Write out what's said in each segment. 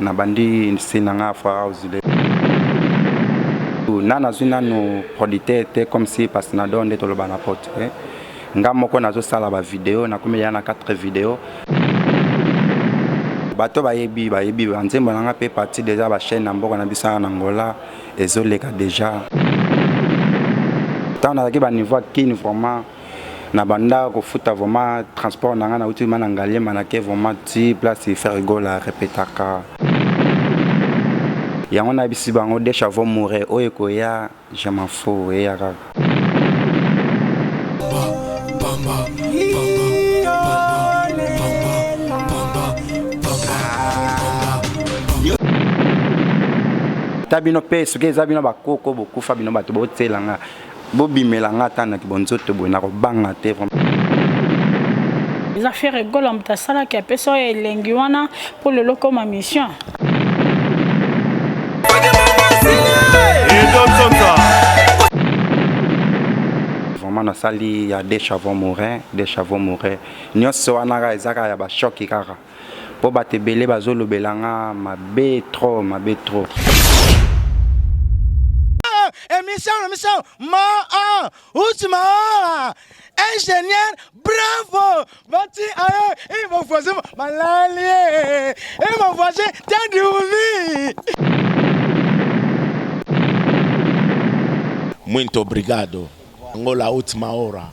Na bandi nse na nga fa house le. Nana zwi nanu producteur te comme si Pasnado nde toloba na poto eh. Nga moko nazo sala ba video na komi ya na 4 video. Bato bayebi bayebi ba nzembo na nga pe parti deja ba chaine na mboka na biso na Angola ezo leka deja. Tango nazalaki ba niveau ya kin vraiment. na banda kofuta vraiment transport na nga na uti mana ngaliema na ke vraiment ti place ferrigola repetaka yango nayebisi bango de chavo moure oyo ekoya je m'en fous eya kaka ata bino mpe soki eza bino bakoko bokufa bino bato botyela nga Bobimela nga ata na bonzoto boye na kobanga te vraiment. Eza Ferre Gola moto asalaki apesa oyo elengi wana mpo lelo okoma mission. Vraiment nasali ya Deshavon Morin, Deshavon Morin nyonso wana kaka eza kaka ya ba choc kaka. Po bato ebele bazo lobela nga mabe trop mabe trop. Emission na biso ma a uti ma a ingénieur bravo bati aye et mon voisin malali et mon voisin tadi uli Muito obrigado. Angola última hora.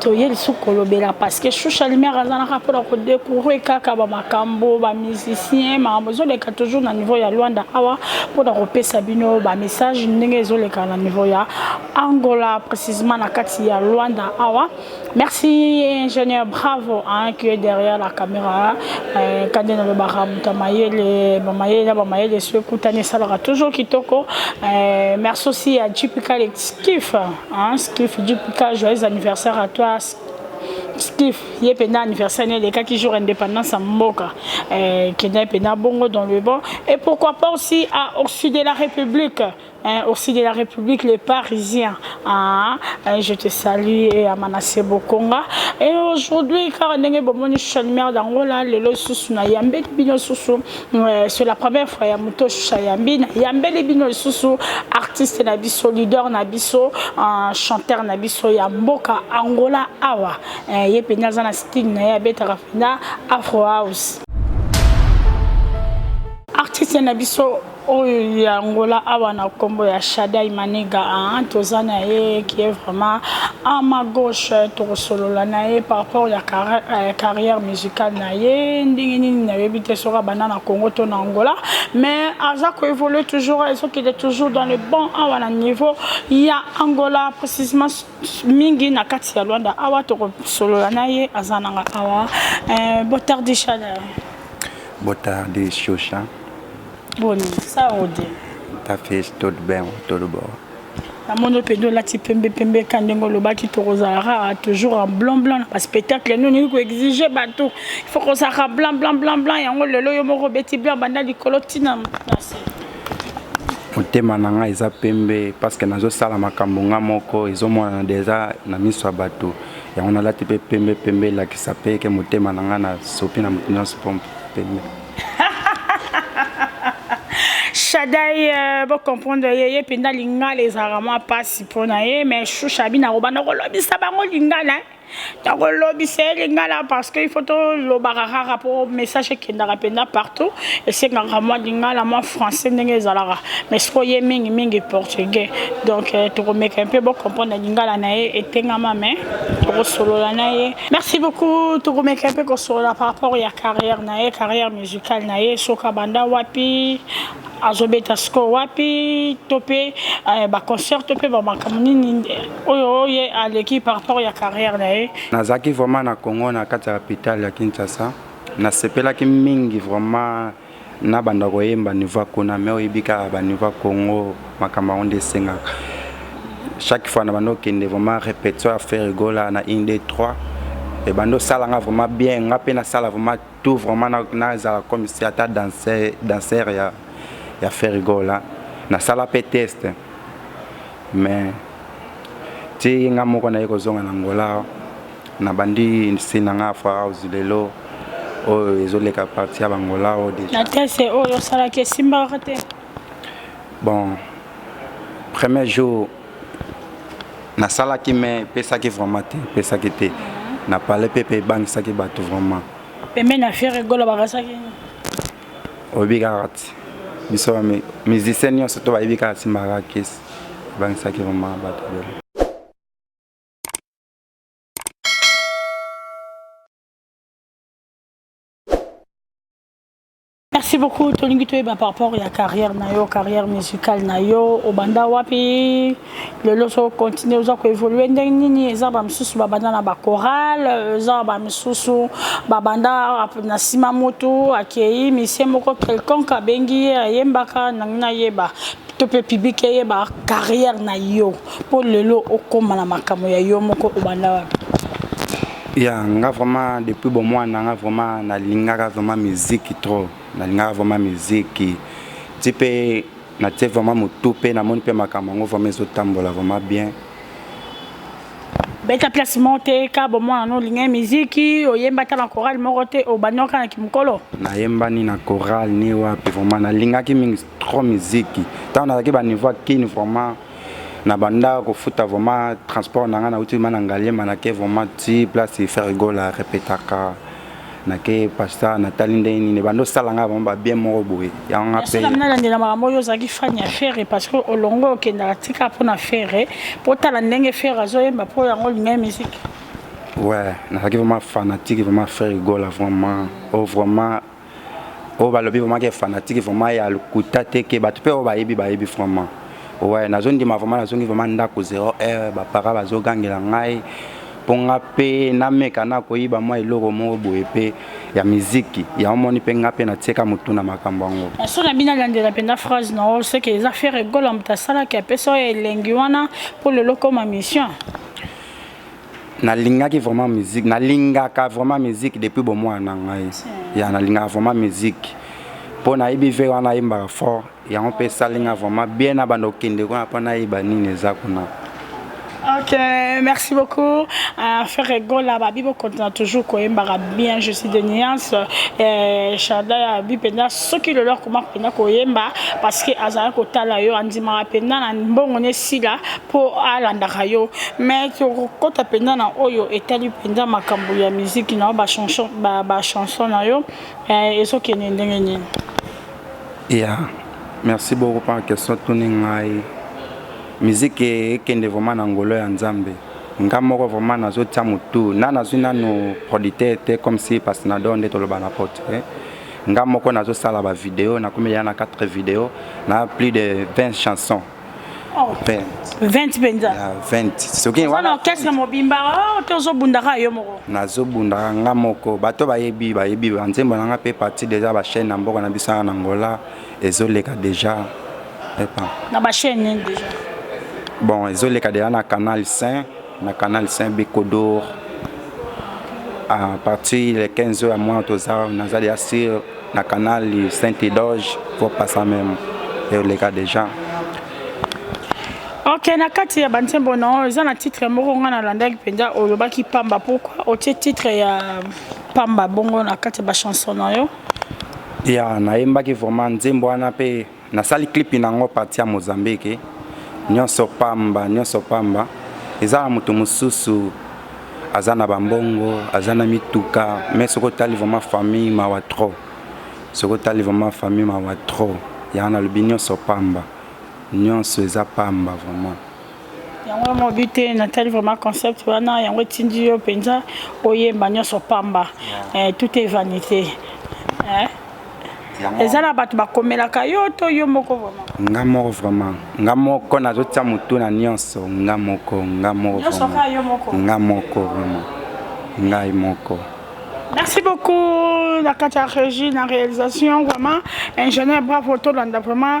toye lisusu kolobela parce que shusha lumière azalaka mpona kodecouvre kaka bamakambo bamusicien makambo ezoleka toujours na niveau ya luanda awa mpona kopesa bino bamessage ndenge ezoleka na niveau ya angola précisement na kati ya luanda awa merci ingénieur bravo hein, qui est derrière la caméra euh, kande nalobaka moto mayele bamayele na bamayele so ekutani esalaka toujours kitoko euh, merci aussi ya jp collectif Hein, Skiff JPK, joyeux anniversaire à toi. Skiff, ye pena anniversaire ne lekaki jour indépendance ya mboka. Euh, kenda ye pena bongo dans le bon. Et pourquoi pas aussi à, au sud de la République. Hein, au sud de la République, les Parisiens. Ah, hein, je te salue et à Manassé Bokonga. Et aujourd'hui, car ndenge bomoni Chalmer d'Angola, lelo susu na yambe bino susu Ouais, c'est la première fois ya moto shusha yambi na yambeli bino lisusu artiste na biso leader na biso uh, chanteur na biso ya mboka Angola awa eh, ye mpenza aza na style na ye abetaka mpenza Afro House artiste na biso oyo ya Angola awa na kombo ya Shadai Maniga hein, ah, toza na ye qui est vraiment à ma gauche tokosolola na ye par rapport ya euh, carrière musicale na ye ndenge nini nayebi te soki abanda na congo to na angola mais aza koévolue toujours ezokende toujours dans le bon awa na niveau ya angola précisement mingi na kati ya lwanda awa tokosolola na ye aza nanga awa euh, botardi chaleur botardi shosha boni saudi tafis todben todobor namoni mpenza olati pembe pembe ka ndenge olobaki tokozalaka toujours en blanc blanc na baspectacle nini olingi koexige bato ifo kozalaka blanc blanc blanc blanc yango lelo yo moko obeti blanc banda likolo ntina nase motema na ngai eza pembe parceke nazosala makambo ngai moko ezomonana deja na miso ya bato yango nalati mpe pembe pembe elakisa mpe eke motema na ngai nasopi na moto nyonso mpo pembe Shadai euh, bo comprendre ye ye mpenza lingala ezalaka mwa mpasi mpo na ye mais shusha bino akoba nakolobisa bango lingala nakolobisa ye lingala parce que il faut tolobaka kaka mpo message ekendaka mpenza partout esengaka mwa lingala mwa français ndenge ezalaka mais siko ye mingi mingi portugais donc euh, tokomeka mpe bocomprendre lingala na ye etengama mais tokosolola na ye Merci beaucoup. Tokomeka mpe kosolola par rapport ya carrière na ye, carrière musicale na ye, soki abanda wapi, azobeta sikoyo wapi, to mpe eh, baconcert to mpe bamakambo nini oyo ye aleki par rapport ya carrière na ye. Nazalaki vraiment na Congo na kati ya capitale ya Kinshasa, nasepelaki mingi vraiment na banda koyemba niveau ya kuna mais oyebi kaka ba niveau ya Congo makambo yango nde esengaka chaque fois na banda okende vraiment répétition ya Ferre Gola na 1 2 3 et banda osala nga vraiment bien nga pe nasala vraiment tout vraiment nazala comme si ata danser danser ya ya Ferre Gola nasala pe test mais ti nga moko naye kozonga na Angola Na bandi se na nga Afro House lelo oyo ezo leka parti ya bangola oyo deja. Na tese oyo osalaki esimbaka te? Bon, premier jour nasalaki mais epesaki vraiment te, epesaki te. Na pale pe pe ebangisaki bato vraiment. Pembeni ya Ferre Gola bakasaki nini? Oyebi kaka ti. Biso ba musicien nyonso to bayebi kaka simbaka kesi. Ebangisaki vraiment bato ebele. Merci beaucoup tolingi toyeba par rapport ya carrière na yo carrière musicale na yo obanda wapi lelo so continue oza koévolue ndenge nini eza bamosusu babanda na bacorale eza bamosusu babanda na nsima motu akei misie moko quelconque abengi ye ayembaka nangi nayeba to mpe public eyeba carrière na yo mpo lelo okoma na makambo ya yo moko obanda wapi ya nga vraiment depuis bomwana nga vraiment nalingaka vraiment miziki trop nalingaka vraiment miziki ti mpe natie vraiment motu mpe namoni mpe makambo yango vraiment ezotambola vraiment bien beta place moko te ka bomwana no olingai miziki oyemba ata na chorale moko te obandaka na kimokolo nayembani na chorale ni wapi vraiment nalingaki mingi trop miziki ntango nazalaki baniveau ya kini vraiment na banda kofuta vraiment transport na ngai nauti ma na ngaliema nake vraiment ti place ferigola repetaka nake pasta natali ndenge nini ebanda osala ngai vraiment babien moko boye yango nga mpe nalandela makambo oyo ozalaki fani ya fere parce que olongo okendaka tika mpo na fere mpo otala ndenge fere azoyemba mpo yango olingai miziki ouais nazalaki vraiment fanatique vraiment fere gola vraiment o oh, vraiment oyo balobi vraiment ke fanatique vraiment ya lokuta te ke bato mpe oyo bayebi bayebi vraiment oye nazondima vraiment nazongi vraiment ndako 0 heure bapara bazogangela ngai mpo nga mpe nameka na koyiba mwa eloko moko boye mpe ya miziki yango moni mpe nga mpe natieka motu na makambo yango so na bino alandela mpenza phrase na yo soki eza fere egola moto asalaki apesa oyo elengi wana mpo lelo koma mission nalingaki vraiment musique nalingaka vraiment musique depuis bomwana na ngai ya nalingaka vraiment musique mpo nayebi ve wana ayembaka fort yango mpe esali nga vraiment bien na banda okende kuna mpo nayeba nini eza kuna Ok, merci beaucoup. Euh, Ferre Gola, Babi, vous continuez toujours quand même bien, je suis de Niance. Euh, Chada, Babi, Penda, ceux qui le leur comment Penda Koyemba, parce que Azara Kotala, yo, Andima, Penda, Bon, on est si là, mpo alandaka yo mais tokokota mpenza na oyo etali mpenza makambo ya miziki na yo bachanson ba, ba chanson na yo eh, ezokende ndenge nini ya yeah. merci beaucoup mpo question tuni ngai miziki ekende vraiment na ngolo ya nzambe nga moko vraiment nazotya motu na nazwi nanu producteur te comme si pasnador nde toloba na pote eh. nga moko nazosala bavideo nakomi ya na 4 video na plus de 20 chansons Oh. 20 mpenza 20 soki wana orchestre mobimba oh, te ozobundaka yo moko nazobundaka nga moko bato bayebi bayebi banzembo na nga mpe parti deja bachaine na mboka na biso na angola ezoleka deja epa na bachaine nini deja bon ezoleka deja na canal saint na canal saint bekodor à partir le 15 ya mwana toza naza deja sur na canal saint edoge faut passa meme eoleka deja ok na kati ya banzembo na oyo eza na titre moko ngai nalandaki mpenza olobaki pamba pourkui otie titre ya pamba bongo na kati ya bachanson na yo ya nayembaki vraiment nzembo wana mpe Nasali clip na ngo parti ya Mozambique nionso pamba nionso pamba eza na moto mosusu aza na bambongo aza na mituka mais soki otali vraiment famille mawa trop soki otali vraiment famille mawa trop yanga nalobi nionso pamba nionso eza pamba vraiment yango mobi te natali vraiment concept wana yango etindi yo mpenza oyemba nyonso pamba eh, tout est vanité eh? eza na bato bakomelaka yo to yo moko vraiment nga moko vraiment nga moko nazotya motu na nyonso nga moko nga moko nga moko vraiment ngai moko Merci beaucoup, la Kata Régie, la réalisation, vraiment. Ingénieur, bravo, tout le monde, vraiment.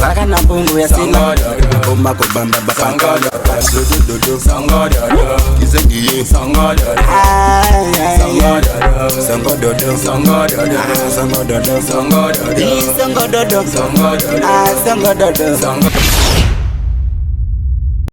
zaka na mbongo ya sima ekoma kobamba bapangakizengiye sango dodo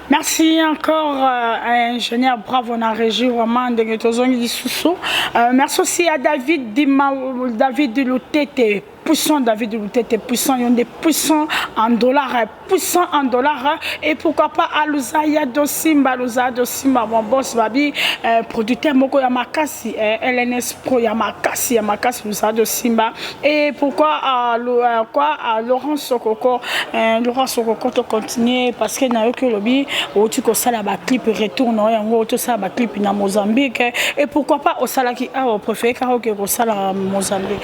Merci encore euh, à l'ingénieur Bravo, on a régi vraiment de euh, Merci aussi à David, Dima, David Loutete puissant David Lutete puissant yonde puissant en dollars hein, puissant en dollars hein. et pourquoi pas aluza ya dosimba aluza ya dosimba mon boss babi euh, producteur moko ya makasi euh, LNS pro ya makasi ya makasi aluza dosimba et pourquoi euh, le, euh, quoi euh, Laurent Sokoko euh, Laurent Sokoko to continuer parce que na yo que lobi oti ko sala ba clip retour na yango to sala ba clip na Mozambique et pourquoi pas osalaki awa préféré karaoke ko sala Mozambique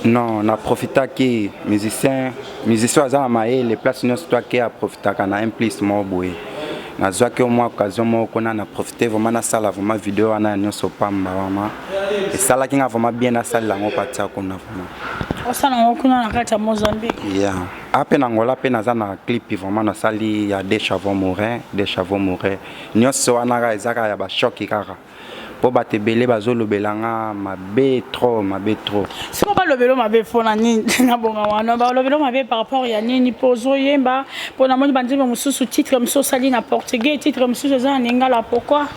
Non, na profitaki musicien, musicien aza na mayele place nyonso to ake aprofitaka na un plus moko boye. Nazwaki mwa occasion moko kuna na profite vraiment nasala vraiment video wana ya nyonso pamba vraiment. Esalaki nga vraiment bien nasalela yango patia kuna vraiment. Osala yango kuna na kati ya Mozambique? Yeah. Ape na Angola pe naza na clip vraiment nasali ya Deshavon Morin, Deshavon Morin. Nyonso wana kaka eza kaka ya ba choc kaka. po bato ebele bazolobela nga mabe trop mabe trop siko balobelo mabe mpo na nini na bonga wana balobelo mabe par rapport ya nini mpo ozoyemba mpo namoni banzembo mosusu titre mosusu osali na portugais titre mosusu eza na lingala pourkoi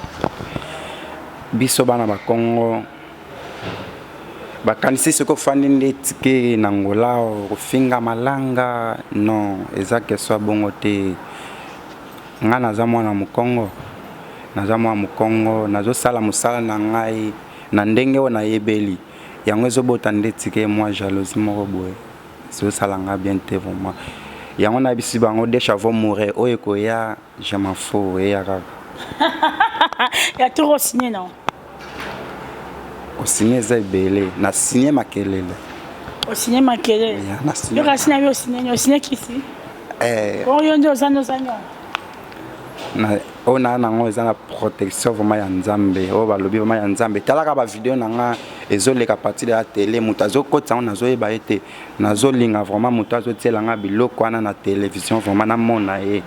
biso bana bakongo bakanisi soki ofandi nde tike na ngola okofinga malanga non eza keswa bongo te Nga naza mwana mukongo naza mwana mukongo nazo sala musala na ngai na ndenge oyo na yebeli yango ezo bota ndeti ke mwa jalousie moko boye ezo sala nga bien te vraiment yango na bisi bango de chavo moure oyo ekoya je m'en fous eya kaka ya trop signe non Osigne eza ebele na signe makelele. Osigne makelele. Yo kasi na yo osigne osigne kisi. Eh. Oyo ndio ozana ozanya. Na oyo na nango eza na protection vraiment ya Nzambe. Oyo balobi vraiment ya Nzambe. Talaka ba video na nga ezoleka partir ya tele moto azokotisa yango nazoyeba ye te. nazo linga vraiment mutu azo tiela nga biloko wana na television vraiment na mona ye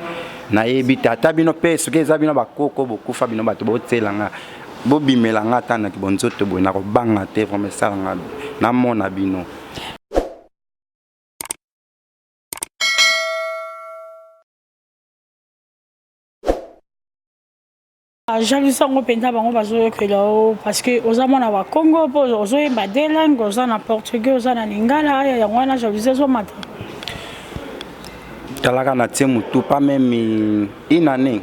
nayebi te ata bino pe soki eza bino bakoko bokufa bino bato botiela nga bobimela nga ata na kibonzoto boye nakobanga te vraimen esala nga namona bino Ah, jalousie yango mpenza bango bazoyokela yo parce que oza mwana wa congo mpo ozoyemba de langue oza na portugais oza na lingala aya yango wana jalousie ezomata talaka na tie motu pa meme une année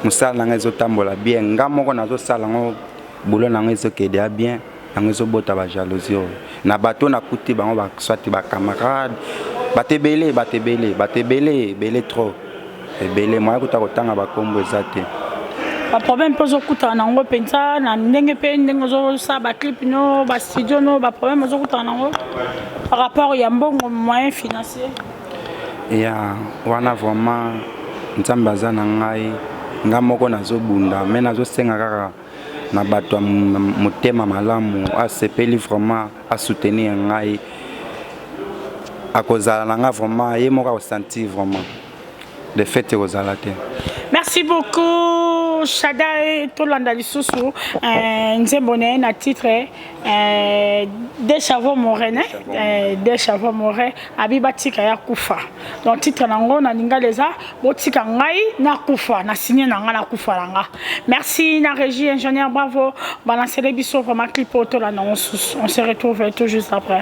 mosala na ngai ezotambola bien nga moko nazosala yango boulot na yango ezokede ya bien yango ezobota ba jalousie oyo na bato na kuti bango ba soit ba camarade bato ebele bato ebele bato ebele ebele trop ebele moya kuta kotanga bakombo eza te baproblème mpe ozokutana na yango mpenza na ndenge mpe ndenge ozosala baclip no bastudio no baproblème ozokutana na yango par rapport ya mbongo moyen financier ya wana vraiment nzambe aza na ngai ngai moko nazobunda me nazosenga kaka na bato ya motema malamu asepeli vraiment asoutenir ngai akozala na ngai vraiment ye moko akosentir vraiment de fait ekozala te merci beaucoup shadai tolanda lisusu eh, nzembo na ye na titre Eh, de chavo more ne eh, de chavo more abi batika ya kufa donc titre na yango na lingala eza botika ngai nakufa na signe na ngai nakufa na nga merci na régie ingénieur bravo balancele biso vraiment clip oyo tolanda mosusu on se retrouve tout juste après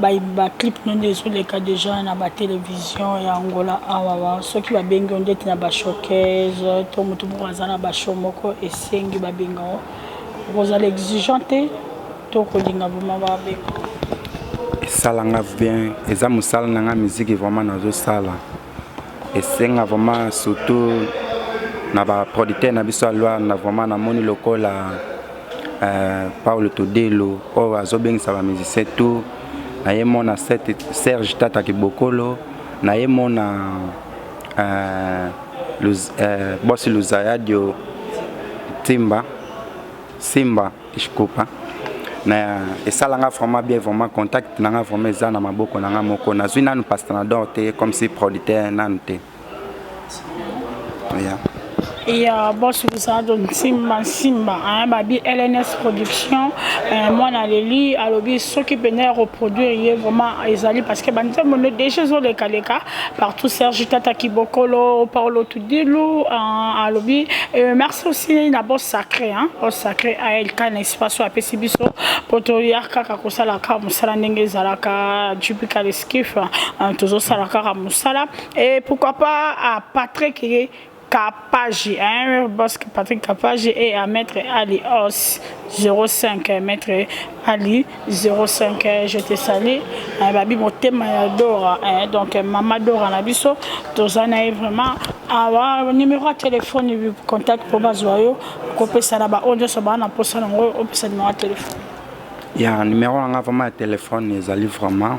Ba clip no nde ezo leka dejà na ba television ya Angola awa, soki ba bengi yo ndeti na ba showcase to mutu moko aza na ba show moko esengi ba benga yo, okozala exigeant te to okolinga vraiment ba benga yo? Esala nga bien, eza musala na nga musique vraiment nazo sala. esenga vraiment surtout na ba producteur na biso ya Luanda vraiment namoni lokola euh, Paulo Todelo oyo azobengisa ba musicien tout na ye mona Serge Tata Kibokolo na ye mona euh, luz, euh, bosi Luzayadio Timba Simba Ishkopa na esala nga vraiment bien vraiment contact na nga vraiment eza na maboko na nga moko nazwi nanu pasta na dor te comme si producteur nanu te yeah. ya bosi bisato nsimba nsimba babi lns production eh, mwana aleli alobi soki mpenza ya koproduire ye vraiment ezali parce que banzembo nde deja ezolekaleka partout serge tata kibokolo paolo Dilu uh, alobi euh, merci aussi na boss sacré hein boss sacré ALK na espace oyo apesi biso mpo toya kaka kosala kaka mosala ndenge ezalaka jupika leskif uh, tozosala kaka mosala et pourquoi pas uh, Patrick ye Kapaji, hein, boss Patrick Kapaji et à Maître Ali Os 05, Maître Ali 05 eh, je te salue eh, babi motema ya dora eh, donc mama dora na biso toza na ye vraiment awa ah, numero ya telefone contact mpo bazwa yo kopesa na baoyo nyonso baa na mposa nango opesa numero ya telefone ya numero na ngai vraiment ya telefone ezali vraiment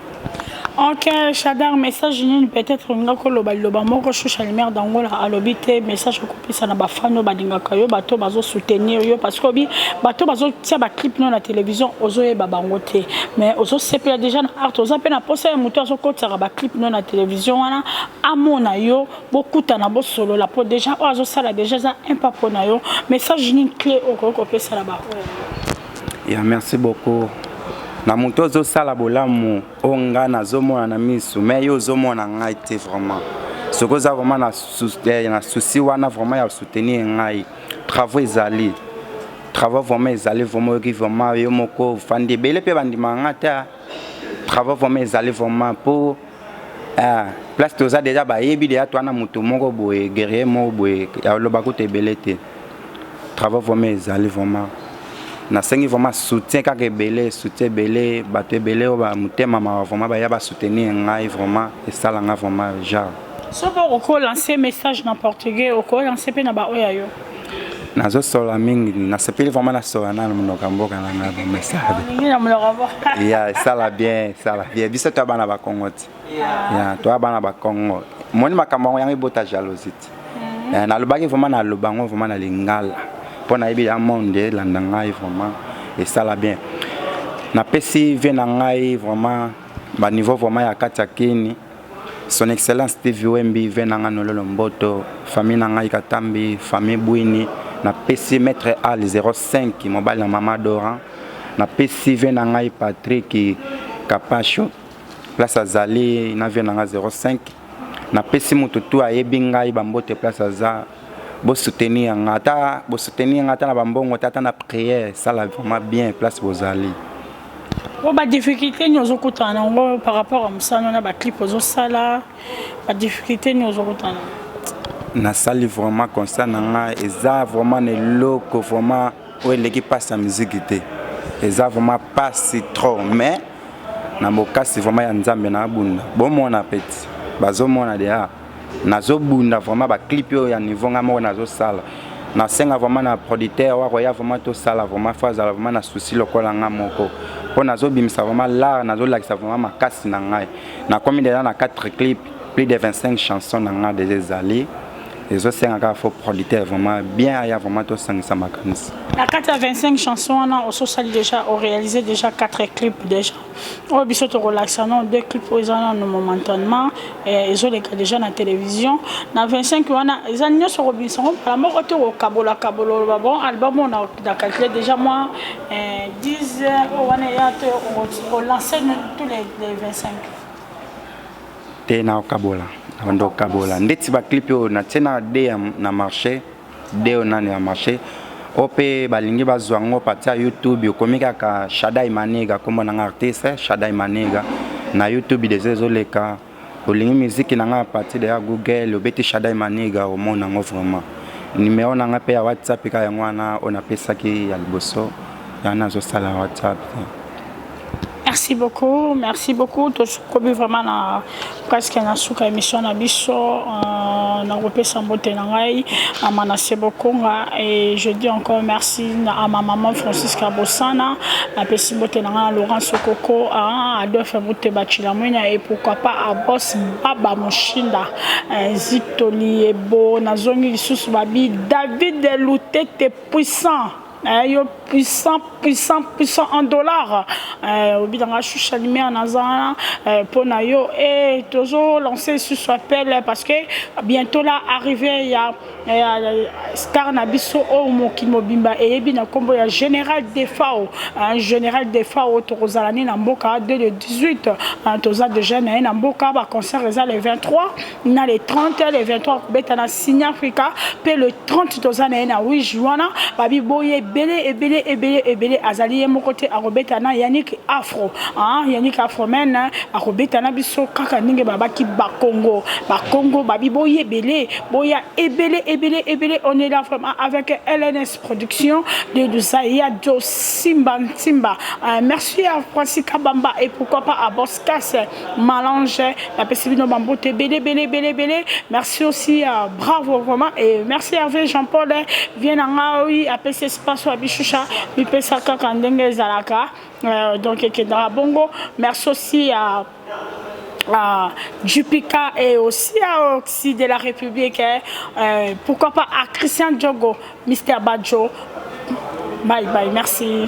ok shadar message nini peut-être olinga koloba liloba moko shusha lumière d'angola alobi te message okopesa na bafani oyo balingaka yo bato bazosoutenir yo parce que obi bato bazotia baclip no na télévision ozoyeba bango te mais ozosepela déjà na art oza mpe na mposa ya moto azokotisaka baclip no na télévision wana amona yo bokutana bosolola mpo déjà oyo azosala déjà eza impa mpo na yo message nini clé okoki kopesa na baoyo Ya merci beaucoup. Na moto ozo sala bolamu o nga na zo mona na misu mais yo ozo mona ngai te vraiment. Soki oza vraiment na eh, na souci wana vraiment ya soutenir ngai. Travaux ezali. Travaux vraiment ezali vraiment oyoki vraiment yo moko fandi ebele pe bandima nga ta. Travaux vraiment ezali vraiment pour Ah, place toza deja bayebi deja toana moto moko boye guerrier moko boye aloba kutu ebele te travaux vraiment ezali vraiment nasengi vraiment soutien kaka ebele soutien ebele bato ebele oyo bamotema mawa vraiment baya basoutenir ngai vraiment esala ngai vraiment genre soki okoki olancer message na portugais okoki olancer mpe na baoyo ya yo nazosola mingi nasepeli vraimen nasola nana monoko ya mboka na ngai vraimen esala bien ya esala bien esala bien biso toya bana bakongo ti ya toya bana bakongo moni makambo yango yango ebota jalousie ti mm. eh, nalobaki vraimen naloba yango vraimen na lingala mpo nayebi ya monde elanda ngai vraimen esala bien napesi vie na ngai vraimen baniveau vraimen ya kati ya kini Son Excellence Steve Wembi, ve na ngai Nololo Mboto, famille na ngai Katambi, famille Bwini, napesi Maitre Al 05, mobali na Mama Doran, napesi ve na ngai Patrick Kapasho, place azali na ve na ngai 05, napesi moto tu ayebi ngai bambote place aza, bosoutenir nga ata bosoutenir nga ata na bambongo te ata na prière sala vraiment bien place bozali. Bon, ba difficulté ni ozo kutana na ngo par rapport à musano na ba clip ozo sala ba difficulté ni ozo kutana na sali vraiment constat na nga eza vraiment na eloko vraiment oyo eleki mpasi ya miziki te eza vraiment mpasi trop mais na bokasi vraiment ya nzambe na abunda bomona peti bazomona deja nazo bunda vraiment ba clip oyo ya niveau nga moko nazo sala na senga vraiment na producteur wa koya vraiment to sala vraiment faut azala vraiment na souci lokola nga moko po nazo bimisa vraiment l'art nazo lakisa vraiment makasi na ngai na komi déjà na 4 clip plus de 25 chansons na nga déjà ezali ezo senga ka faut producteur vraiment bien aya vraiment to sangisa makanisi na 4 25 chansons wana oso sali déjà o réaliser déjà 4 clip déjà oyo biso tokolakisa no deux clip oyo eza nano momentanement eh, ezoleka deja na télévision na 25 wana eza nyonso kobimisa yango mbala moko te kokabola kabola oloba bon album oyo na calcule déjà mwa 10 eh, oyo wana eya te olanse tous les 25 te naokabola abanda kokabola ndeti baclipe oyo natie na de na marché Deo nani ya marche o mpe balingi bazwa ngo pati ya youtube okomi kaka shadai maniga nkombo na nga artiste shadai maniga na youtube deja ezoleka olingi miziki na nga ya pati deya google obeti shadai maniga omona yango vraiment nimero na nga mpe ya whatsapp ka yango wana oyo napesaki ya liboso yango nazosala whatsapp Merci beaucoup, merci beaucoup. Tosukobi vraiment na presque na suka émission na biso. Euh, na kopesa mbote na ngai na Manasse Bokonga et je dis encore merci na à ma maman Francisca Bossana, na pesi mbote na ngai Laurent Sokoko, à Adolphe Mbote Bachilamwenya et pourquoi pas à Boss Baba Mushinda, euh, Zito Liebo, na zongi lisusu babi David Lutete puissant. Eh, yo puissant puissant puissant en dollar eh, obi nanga shusha limea naza wana eh, mpo na yo eh, tozo lance lisusu appel eh, parce que bientôt la arrivé ya, ya star na biso oyo oh, mokili mobimba eyebi na nkombo ya général defao eh, général defao tokozala ne na mboka de le 18 eh, toza déjà na ye na mboka baconcert eza le 23 na le 30 le 23 kobeta na signe africa mpe le 30 toza na ye na wige wana babi boye ebele ebele ebele ebele azali ye moko te akobeta na yannick afro ah, yannick afro men akobeta na biso kaka ndenge babaki bakongo bakongo babi boye ebele boya ebele ebele ebele on est là vraiment avec lns production de luzaya do simba nsimba euh, merci à francis kabamba et pourquoi pas à boscase Malange na pesi bino ba mbote ebele ebele ebele ebele merci aussi uh, bravo vraiment et merci Hervé Jean Paul eh, vient na nga oui apesi espace wa bishusha bipesa kaka ndenge ezalaka euh, donc ekendaka bongo merci aussi à uh, ah, Jupika et aussi à Oxy de la République, hein, euh, pourquoi pas à Christian Diogo, Mr. Badjo. Bye bye, merci.